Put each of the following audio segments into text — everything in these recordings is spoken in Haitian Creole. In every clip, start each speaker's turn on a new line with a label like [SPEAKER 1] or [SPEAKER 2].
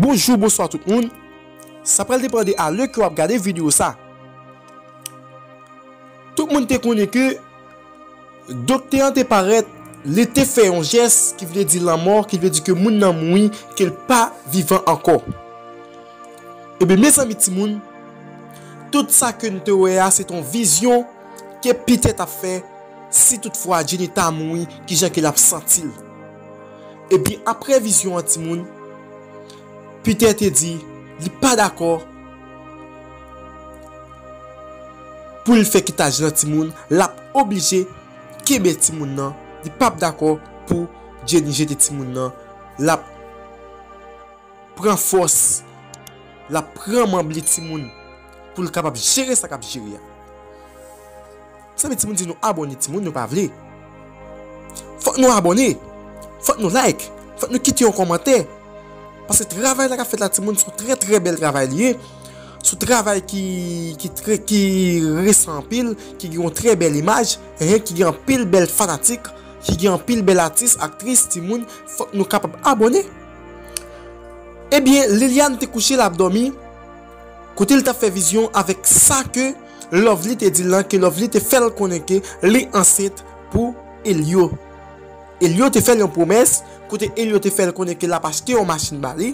[SPEAKER 1] Bonjou bonswa tout moun Sa pral depan de a lè ke wap gade video sa Tout moun te konnen ke Doktè an te parèt, li te fè yon jès ki vle di lanmò, ki vle di ke moun nan mouri, ke l pa vivan ankò. Ebyen, mezanmi timoun, tout sa ke nou te wè a, se te yon vizyon ke Peter t ap fè, si tout fwa Jenny ta mouri, ki jan ke l ap santi l. Ebyen, apre vizyon an timoun, Peter te di, li pa dakò, Pou l fè kitaj lan timoun l ap oblije kenbe timoun nan li pap dakò pou Jenny jete timoun nan l ap pran fòs l ap pran manble timoun pou l kapab jere sa k ap jere a. Sanble timoun di nou abone timoun yo pa vle fòk nou abone fòk nou like fòk nou kite yon kòmantè paske travay la kap fèt la timoun son trè trè bèl travay li ye son travay ki ki trè ki resan anpil ki gen yon trè bèl imaj ehe ki gen anpil bèl fanatik ki gen anpil bèl atis aktris timoun fòk nou kapab abone ebyen Liliane te kouche lap dòmi kote li tap fè vizyon avèk sa ke. Lovely te di lan ke Lovely te fèl konnen ke li ansent pou Elio. Elio te fèl yon pwomès kote Elio te fèl konnen ke lap achte yon machin ba li.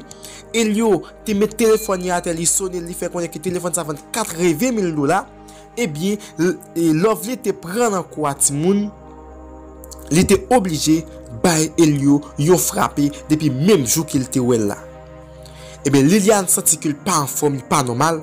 [SPEAKER 1] Elio te met telefòn li atè li sonel li fè konnen ke telefòn sa vann 80 mil dola. Ebyen Lovely te pran lan kou a timoun li te oblije bay Elio yon frape depi menm jou kel te wèl la. Ebyen Liliane santi kel pa anfòm li pa nòmal.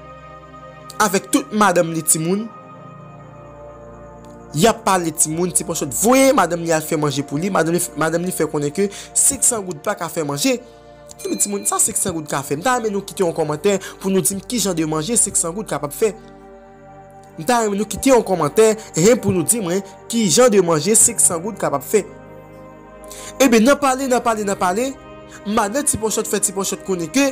[SPEAKER 1] avèk tout madanm li timoun yap pale timoun ti panchòt voye madanm li al fè manje pou li madanm li fè konnen ke 500 goud paka fè manje ebyen timoun sa 500 goud ka fè m ta renmen nou kite yon kòmantè pou nou di m kijan de manje 500 goud kapab fè m ta renmen nou kite yon kòmantè hen pou nou di mwen kijan de manje 500 goud kapab fè ebyen nan pale nan pale nan pale madan ti panchòt fè ti panchòt konnen ke.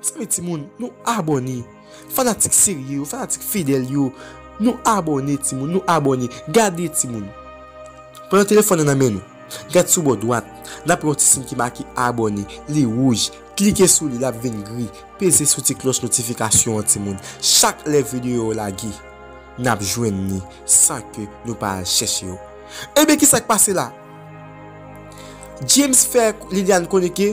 [SPEAKER 1] Mezanmi timoun nou abòne fanatik serye yo fanatik fidèl yo nou abòne timoun nou abòne gade timoun pran yon telefòn nan nan men nou gad sou bò dwat nap wè yon ti siy ki make abòne li wouj klike sou li lap vin gri peze sou ti klòch notifikasyon an timoun chak lè videyo yo lage nap jwenn li san ke nou pa al chèche yo ebyen kisak pase la James fè Liliane konnen ke.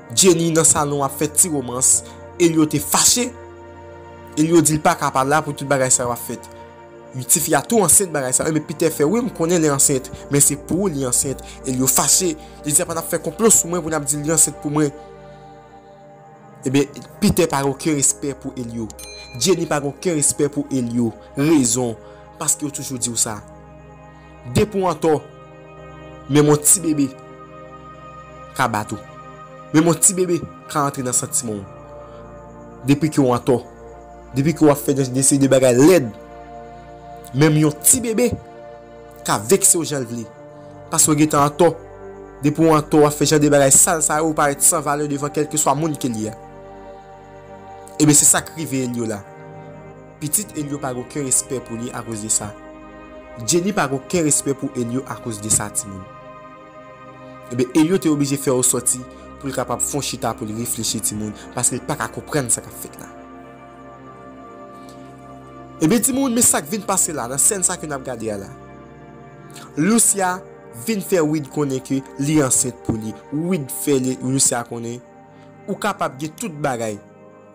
[SPEAKER 1] Jenny nan salon ap fè ti romans, Elio te fache. Elio di li pa ka pa la pou tout bagay sa yo ap fèt. Ui ti fi a tou ansent bagay sa ui Peter fè wi m konnen li ansent men se pou ou li ansent Elio fache li di apa nap fè konplo sou mwen pou nap dil li ansent pou mwen ebyen Peter pa gen oken respè pou Elio Jenny pa gen oken respè pou Elio rezon paske yo toujou diw sa. Depi w antò, menm yon ti bebe ka bat ou. Menm yon ti bebe ka antre nan santiman w. Depi ke w antò, depi ke w ap fè yon seri de bagay lèd, menm yon ti bebe ka vekse w jan l vle. Paske w gentan antò, depi w antò w ap fè jan de bagay sal sa yo, ou parèt san valè devan kèlkeswa moun ke li a. Ebyen se sa k rive Eliola. Pitit Elio pa gen oken respè pou li akoz de sa. Jenny pa gen oken respè pou Elio akoz de sa timoun. Ebyen Elio te oblije fè yon sòti pou l kapab fon chita pou l reflechi timoun paske l pa ka konprann sa k ap fèt la. Ebyen timoun men sa k vin pase la nan sèn sa ke n ap gade a la. Lucia vin fè Wid konnen ke li ansent pou li. Wid fè Lucia konnen ou kapab gen tout bagay.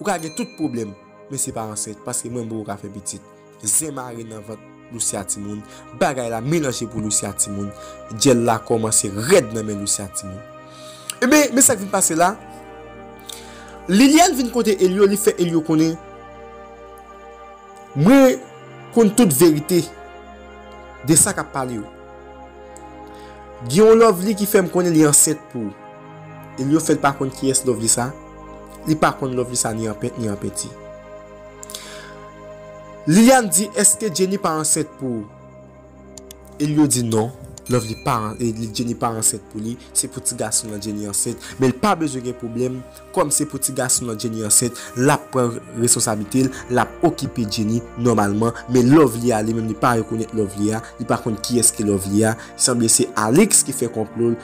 [SPEAKER 1] Ou ka gen tout pwoblèm. Men se pa ansent paske mwen boo ka fè pitit zen mare nan vant Lucia timoun bagay la melanje pou Lucia timoun dyèl la kòmanse rèd nan men Lucia timoun Ebyen men sak vin pase la Liliane vin kote Elio li fè Elio konnen mwen konn tout verite de sa kap pale yo gen yon lovely ki fèm konnen li ansent pou ou Elio fèl pa konn kiyès lovely sa li pa konn lovely sa ni an pent ni an penti Liliane di eske Jenny pa ansent pou ou Elio di non lovely pa Jenny pa ansent pou li se pou ti gason nan Jenny ansent men li pa bezwen gen pwoblèm kòm se pou ti gason nan Jenny ansent lap pran responsablite l lap okipe Jenny nòmalman men lovely a li menm li pa rekonèt lovely a li pa konn kiyès ki lovely a sanble se Alix ki fè konplo l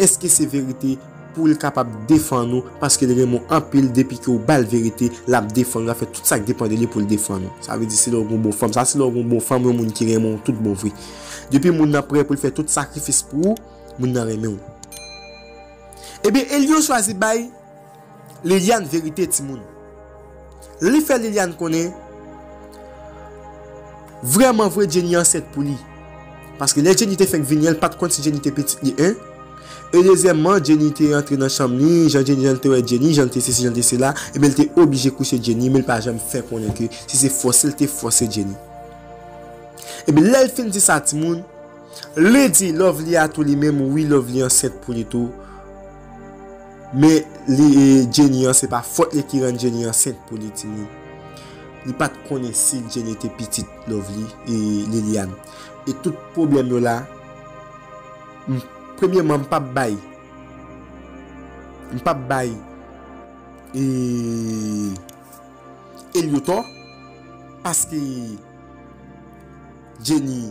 [SPEAKER 1] Eske se verite poul kapab defann ou paskel renmen w anpil depi ke ou bal verite lap defann ou lap fè tout sak depan de li poul defann ou sa vle di se lè ou gen yon bon fanm sa se lè ou gen yon bon fanm yon moun ki renmen w tout bon vre depi moun nan prè poul fè tout sakrifis pou ou moun nan renmen w ebyen Elio chwazi bay Liliane verite timoun. Li fè Liliane konnen Vrèman vre Jenny ansent pou li Paske lè Jenny te fenk vini an li pat konn si Jenny te pitit li 1 E dezyèmman Jenny te antre nan chanm li jan Jenny jan li te wè Jenny jan li te sesi jan li te sela Ebyen li te oblije kouche Jenny men li pa janm fè konnen ke si se fòse li te fòse Jenny Ebyen lèl fin di sa timoun Li di Lovely a tou li menm wi Lovely ansent pou li tou Men li e Jenny an se pa fòt li ki rann Jenny ansent pou li ti moun. Li pat konnen si Jenny te pitit Lovely e Liliane. E tout pwoblèm yo la m premyeman m pap bay m pap bay e Elio tò paske Jenny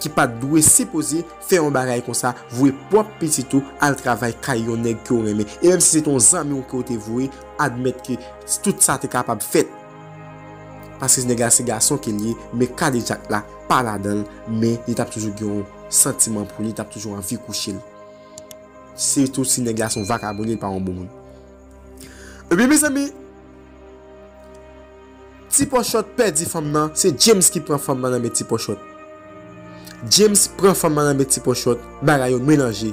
[SPEAKER 1] ki pat dwe sipoze fè yon bagay konsa voye pwòp pitit ou al travay kay yon nèg ke w renmen e menm si se te yon zanmi w ke w te voye admèt ke tout sa te kapab fèt paske nèg la se gason ke l ye men kadejak la pa ladan l men li tap toujou gen yon santiman pou li tap toujou anvi kouche l sitou si nèg la se yon vakabon li pa yon bon moun ebyen mezanmi. Ti pòchòt pèdi fanm nan se James ki pran fanm nan nan men ti pòchòt James pran fanm nan nan men ti pòchòt bagay yo melanje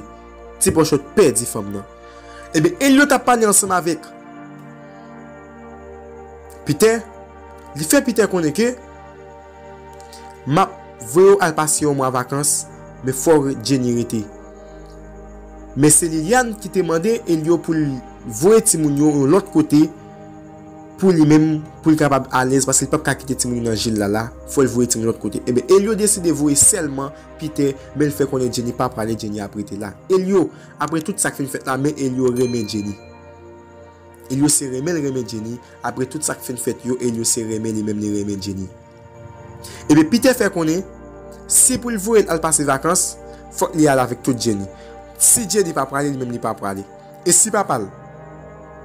[SPEAKER 1] ti pòchòt pèdi fanm nan ebyen Elliot ap pale ansanm avèk Peter li fè Peter konnen ke map voye w al pase yon mwa vakans men fò Jenny rete men se Liliane ki te mande Elliot pou l voye timoun yo yon lòt kote. pou li menm pou l kapab alèz paske li pap ka kite timoun yo nan je Lala fòl voye timoun lòt kote enben Elio deside voye sèlman Peter men l fè konnen Jenny pa prale Jenny ap rete la Elio aprè tout sak fin fèt la men Elio renmen Jenny Elio se renmen l renmen Jenny aprè tout sak fin fèt yo Elio se renmen li menm li renmen Jenny. Ebyen Peter fè konnen si pou l voye l al pase vakans fòk li al avèk tout Jenny. Si Jenny pa prale li menm li pa prale. E si papa l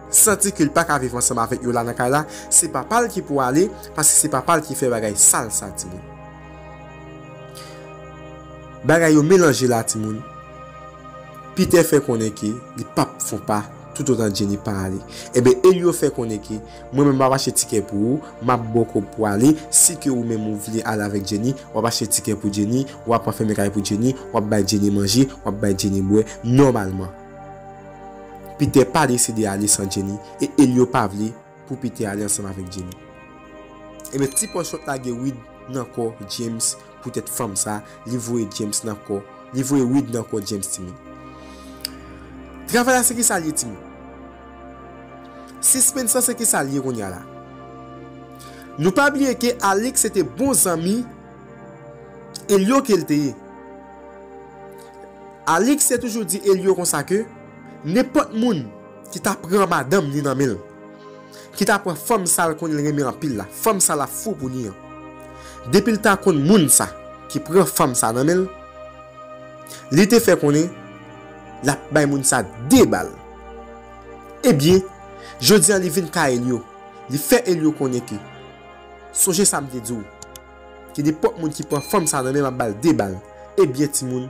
[SPEAKER 1] santi ke l pa ka viv ansanm avèk yo la nan kay la se papa l ki pou ale paske se papa l ki fè bagay sal sa timoun. Bagay yo melanje la timoun. Peter fè konnen ke li pap fon pa toutotan Jenny pa ale. Ebyen Elio fè konnen ke. Mwen menm map achte tikè pou ou map baw kob pou ale si ke ou menm ou vle ale avèk Jenny wap achte tikè pou Jenny wap anfème kay pou Jenny wap bay Jenny manje wap bay Jenny bwè nòmalman Peter pa deside ale san Jenny e Elio pa vle pou Peter ale ansanm avèk Jenny. Ebyen ti pòch lot lage wid nan kò James Pou tèt fanm sa li voye James nan kò li voye Wid nan kò James ti moun. Travay la se kisal ye ti moun. Sispens lan se kisal ye kounya la. Nou pa bliye ke Alix se te bon zanmi Elio kel te ye. Alix te toujou di Elio konsa ke nenpòt moun ki ta pran madanm li nan menl. ki ta pran fanm sa l konnen l renmen anpil la, fanm sa l ap fou pou li an. Depi l ta konn moun sa ki pran fanm sa nan men l, li te fè konnen l ap bay moun sa de bal. Ebyen, jodi a li vin kay Elio, li fè Elio konnen ke, Sonje sa m te di w, ke nenpòt moun ki pran fanm sa nan men m ap ba l de bal. Ebyen timoun,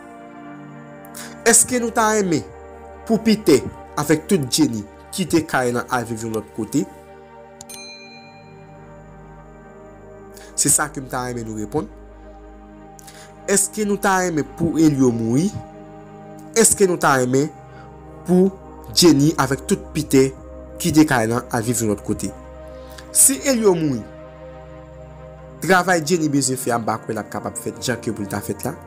[SPEAKER 1] Eske nou ta renmen pou Piter avèk tout Jenny kite kay lan al viv yon lòt kote? Se sa ke m ta renmen nou reponn. Eske nou ta renmen pou Elio mouri? Eske nou ta renmen pou Jenny avèk tout Piter kite kay lan al viv yon lòt kote? Si Elio mouri, travay Jenny bezwen fè a m pa kwè l ap kapab fèt jan ke pou l ta fèt la.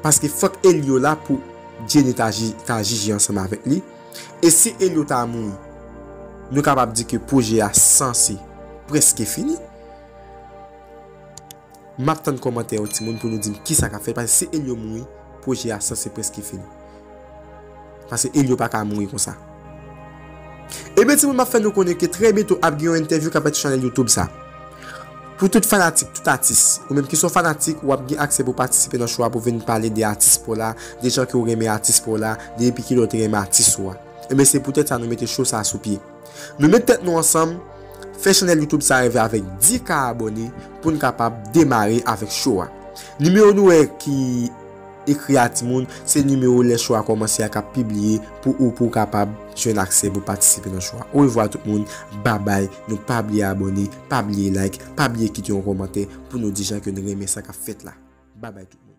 [SPEAKER 1] Paske fòk Elio la pou Jenny ta jije ansanm avèk li. E si Elio ta mouri, nou kapab di ke pwojè a sanse prèske fini. M ap tann kòmantè yo timoun pou nou di m kisa k ap fèt. Paske si Elio mouri, pwojè a sanse prèske fini. Pase Elio pa ka mouri konsa. Ebyen timoun map fè nou konnen ke trè byento ap gen yon entèvyou kap fèt sou chanèl youtube sa. Pou tout fanatik, tout atis. Ou menm ki son fanatik, wap gen aksè pou patisipe nan show a pou vin pale de atis paw la, de jan ke ou renmen atis paw la, de epi kilè ou te renmen atis ou a. Ebyen se pou tèt sa nou mete show sa sou pye. Nou met tèt nou ansanm, fè chanèl youtube sa reve avèk 10 ka abòne poun kapab demare avèk show a. Nimewo nou wè ki. Ekri a timoun, se nimewo lè chou a kòmanse a kap pibliye pou ou pou w kapab jwenn aksè pou patisipe nan chou a. Orevwa tout moun, babay, nou pa bliye abòne, pa bliye like, pa bliye kite yon kòmantè pou nou di jan ke n renmen sa kap fèt la. Babay tout moun.